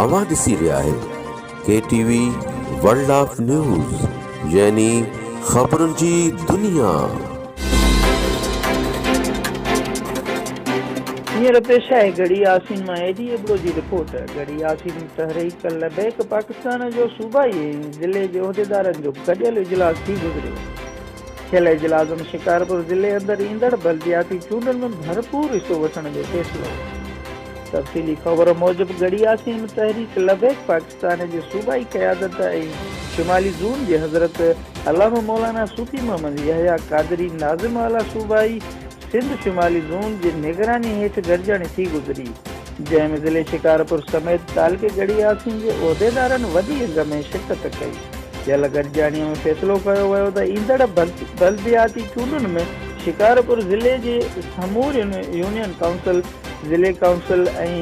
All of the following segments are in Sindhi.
اوهان ڏسي رهيا آهيو K T V world of news يعني خبرن جي دنيا. هينئر پيش آهي گڙهي ياسين مان اي ڊي ابڙو جي رپورٽ. گڙهي ياسين تحريڪ لبيڪ پاڪستان جو صوبائي ۽ ضلعي جي عهديدارن جو گڏيل اجلاس ٿي گذريو. ٿيل اجلاس ۾ شڪارپور ضلعي اندر ايندڙ بلدياتي چونڊن ۾ ڀرپور حصو وٺڻ جو فيصلو. تفصيلي خبر موجب ڳڙهي عاصم تحريڪ لبيڪ پاڪستان جي صوبائي قيادت ۽ شمالي زون جي حضرت علامه مولانا صوفي محمد يحيٰ قادري ناظم اعليٰ صوبائي سنڌ شمالي زون جي نگراني هيٺ گڏجاڻي ٿي گذري جنهن ۾ ضلعي شڪارپور سميت تعلقي ڳڙهي عاصم جي عهديدارن وڏي انگ ۾ شرڪت ڪئي. ٿيل گڏجاڻي ۾ فيصلو ڪيو ويو ته ايندڙ بلدياتي چونڊن ۾ شڪارپور ضلعي جي سمورين يونين ڪائونسل، ضلعي ڪائونسل ۽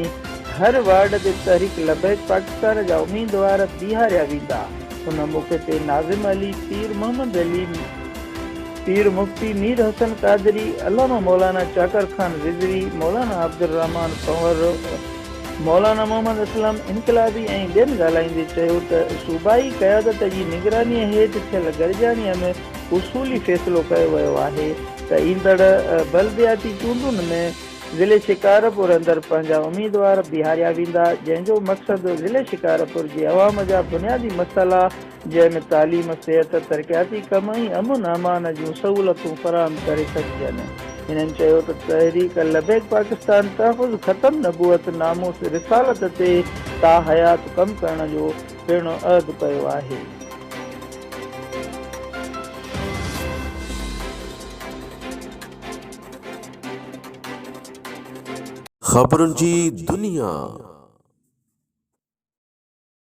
هر وارڊ تي تحريڪ لبيڪ پاڪستان جا اميدوار بيهاريا ويندا. ان موقعي تي ناظم علي، پير محمد علي، پير مفتي مير حسن قادري، علامه مولانا چاڪر خان رضوي، مولانا عبدالرحمان پنهور، مولانا محمد اسلم انقلابي ۽ ٻين ڳالهائيندي چيو ته صوبائي قيادت جي نگراني هيٺ ٿيل گڏجاڻي ۾ اصولي فيصلو ڪيو ويو آهي ته ايندڙ بلدياتي چونڊن ۾ ضلعي شڪارپور اندر پنهنجا اميدوار بيهاريا ويندا جنهن جو مقصد ضلعي شڪارپور جي عوام جا بنيادي مسئلا جنهن ۾ تعليم، صحت، ترقياتي ڪم ۽ امن امان جون سهولتون فراهم ڪري سگهجن. هنن چيو ته تحريڪ لبيڪ پاڪستان تحفظ ختم نبوت ناموس رسالت تي تا حيات ڪم ڪرڻ جو پڻ عهد ڪيو آهي. خبرن جي دنيا.